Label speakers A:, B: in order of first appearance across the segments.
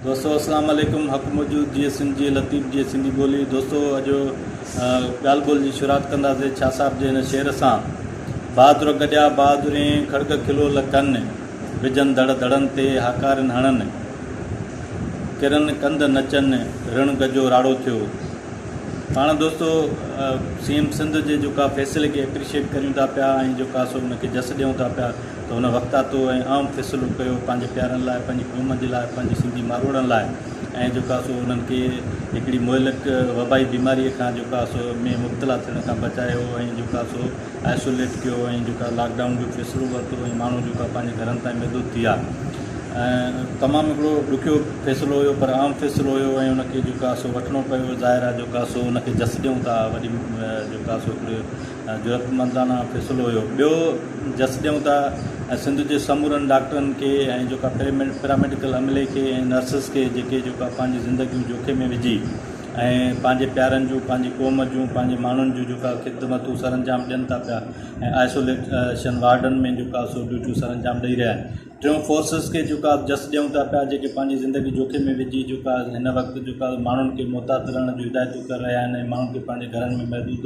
A: دوستو اسلام عليڪم حق موجود جيئي سنڌ جيئي لطيف جيئي سنڌي ٻولي دوستو اڄ ڳالھ ٻولھ جي شروعات ڪنداسي شاھ صاحب جي هن شعر سان بهادر گڏيا بهادرين کڙڳ کلول ڪن وجهن ڌڙ ڌڙن تي هاڪارين هڻن ڪرن ڪنڌ نچن رڻ گجو راڙو ٿيو پاڻ دوستو سي ايم سنڌ جي جيڪا فيصلي کي اپريشيٽ ڪريون ٿا پيا ۽ جيڪا سو ان کي جس ڏيون ٿا پيا ته هن وقتاتو ۽ اهم فيصلو ڪيو پنهنجي پيارن لاء، پنهنجي قوم جي لاء، پنهنجي سنڌي ماروئڙن لاء ۽ جيڪو آهي سو انهن کي هڪڙي مهلڪ وبائي بيماريء کان جيڪو آهي سو ۾ مبتلا ٿيڻ کان بچايو ۽ جيڪو آهي سو آئسوليٽ ڪيو ۽ جيڪو آهي لاڪ ڊائون جو فيصلو ورتو ۽ ماڻهو جيڪو آهي پنهنجي گهرن تائين محدود ٿي ويا. تمام هڪڙو ڏکيو فيصلو هيو پر اهم فيصلو هيو ۽ ان کي جيڪو آهي سو وٺڻو پيو ظاهر آهي جيڪو آهي سو ان کي جس ڏيون ٿا وڏي جيڪو آهي سو هڪڙي جرئتمندانه فيصلو هيو. ٻيو جس ڏيون ته سنڌ جي سمورن ڊاڪٽرن کي ۽ جيڪا پيراميڊيڪل عملي کي ۽ نرسز کي جيڪي جيڪا پنهنجي زندگيون جوکي ۾ وجهي ۽ پنهنجي پيارن جون پنهنجي قوم جون پنهنجي ماڻهن جون جيڪا خدمتون سرانجام ڏين ٿا پيا ۽ آئسوليشن وارڊن ۾ جيڪا سو ڊيوٽيون سرانجام ڏئي رهيا آهن. ٽيون فورسز کي جيڪا جس ڏيون ٿا پيا جيڪي پنهنجي زندگي جوکي ۾ وجهي جيڪا هن وقت جيڪا ماڻهن کي محتاط رهڻ جون هدايتون ڪري رهيا آهن ۽ ماڻهن کي پنهنجي گهرن ۾ محدود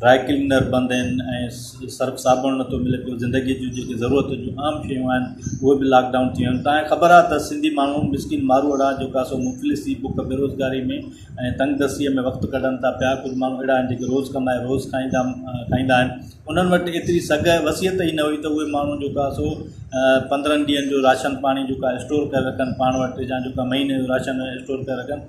A: ڊرائي ڪلينر بند آهن ۽ سرف صابڻ نٿو ملي پيو زندگي جون جيڪي ضرورت جون عام شيون آهن اهي به لاڪ ڊائون ٿيون آهن تايان خبر آهي ته سنڌي ماڻهو مسڪين ماروئڙا جيڪا سو مفلس ٿي بک بيروزگاري ۾ ۽ تنگ دستيء ۾ وقت ڪڍن ٿا پيا ڪجهه ماڻهو اهڙا آهن جيڪي روز ڪمائي روز کائيندا کائيندا آهن انهن وٽ ايتري سگهه وصيت ئي نه هئي ته اهي ماڻهو جيڪا سو پندرهن ڏينهن جو راشن پاڻي جيڪا اسٽور ڪري رکن پاڻ وٽ يا جيڪا مهيني جو راشن اسٽور ڪري رکن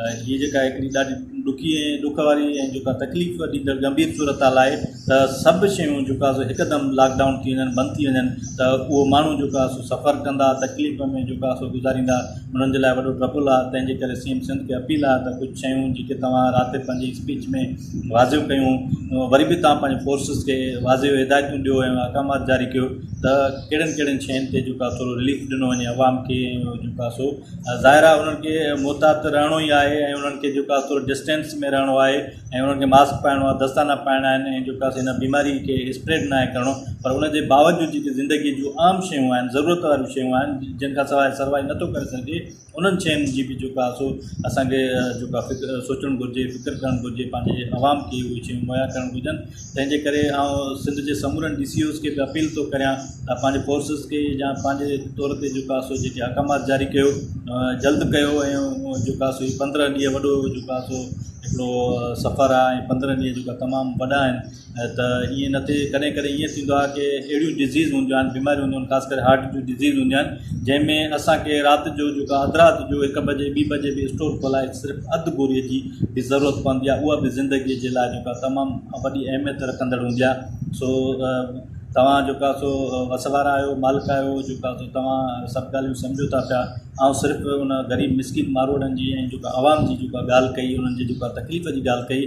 A: هيء جيڪا هڪڙي ڏاڍي ڏکي ۽ ڏک واري ۽ جيڪا تڪليف ڏيندڙ ڳنڀير صورتحال آهي ته سڀ شيون جيڪا سو هڪدم لاڪ ڊائون ٿي وڃن بند ٿي وڃن ته اهو ماڻهو جيڪا سو سفر ڪندا تڪليف ۾ جيڪا سو گذاريندا انهن جي لاء وڏو ٽربل آهي تنهن جي ڪري سيم سنڌ کي اپيل آهي ته ڪجهه شيون جيڪي توهان رات جو پنهنجي اسپيچ ۾ واضح ڪيون وري به تان پنهنجي فورسز کي واضح هدايتون ڏيو ۽ احڪامات جاري ڪيو ته ڪهڙين ڪهڙين شين تي جيڪا سو رليف ڏنو وڃي عوام کي جيڪا سو ظاهر آهي انهن کي محتاط رهڻو ئي آهي ۽ انهن کي جيڪو آهي ٿورو ڊسٽينس ۾ رهڻو آهي ۽ انهن کي ماسڪ پائڻو آهي دستانا پائڻا آهن ۽ جيڪو آهي سو هن بيماري کي اسپريڊ ناهي ڪرڻو پر ان جي باوجود جيڪي زندگي جون عام شيون آهن ضرورت واريون شيون آهن جن کان سواء سروايو نٿو ڪري سگهجي انهن شين جي بي جيڪو آهي سو اسان کي جيڪو آهي سوچڻ گهرجي فڪر ڪرڻ گهرجي پنهنجي عوام کي اهي شيون مهيا ڪرڻ گهرجن تنهن جي ڪري آئون سنڌ جي سمورن ڊي سي اوز کي به اپيل ٿو ڪريان ته پنهنجي فورسز کي يا پنهنجي طور تي جيڪو آسو جيڪي احڪامات جاري ڪيو جلد ڪيو ۽ جيڪو آسو هي پندرهن ڏينهن وڏو جيڪو آسو هڪڙو سفر آهي ۽ پندرهن ڏينهن جيڪو تمام وڏا آهن ۽ ته ائين نه ٿئي ڪڏهن ڪڏهن ائين ٿيندو آهي ڪي اهڙيون ڊزيز هونديون آهن بيماريون هونديون آهن خاص ڪري هارٽ جون ڊزيز هونديون آهن جنهن ۾ اسانکي رات جو جيڪو آ اڌ رات جو هڪ بجي ٻي بجي به اسٽور کولائي صرف اڌ گوريء جي به ضرورت پوندي آهي اها به زندگيء جي لاء جيڪا تمام وڏي اهميت رکندڙ هوندي آهي سو توهان جيڪا سو وس وارا آهيو مالڪ آهيو جيڪا سو توهان سڀ ڳالهيون سمجهو ٿا پيا آئون صرف ان غريب مسڪين ماروئڙن جي ۽ جيڪا عوام جي جيڪا ڳالهه ڪئي انهن جي جيڪا تڪليف جي ڳالهه ڪئي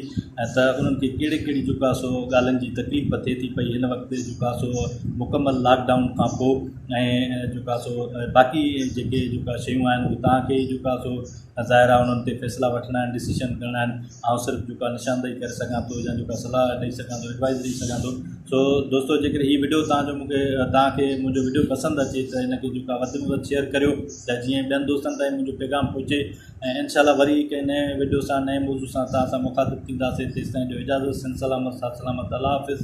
A: ۽ ته انهن کي ڪهڙي ڪهڙي جيڪا سو ڳالهين جي تڪليف ٿئي ٿي پئي هن وقت جيڪا سو مڪمل لاڪ ڊائون کان پوء ۽ جيڪا سو باقي جيڪي جيڪا شيون آهن تان کي جيڪا سو ظاهر آهي انهن تي فيصلا وٺڻا آهن ڊسيشن ڪرڻا آهن آئون صرف جيڪا نشاندهي ڪري سگهان ٿو يا جيڪا صلاح ڏئي سگهان ٿو ايڊوائز ڏئي سگهان ٿو سو دوستو جي ڪڏهن هي وڊيو تهان جو مونکي تهان کي منهنجو وڊيو پسند اچي ته هن کي جيڪا وڌ ۾ وڌ شيئر ڪريو ته جيئن ٻين دوستن تائين منهنجو پيغام پهچي ۽ انشاء الله وري ڪنهن نئين وڊيو سان نئين موضوع سان تهان سان مخاطب ٿينداسي تيسين جو اجازت سن سلامت سات سلامت الله حافظ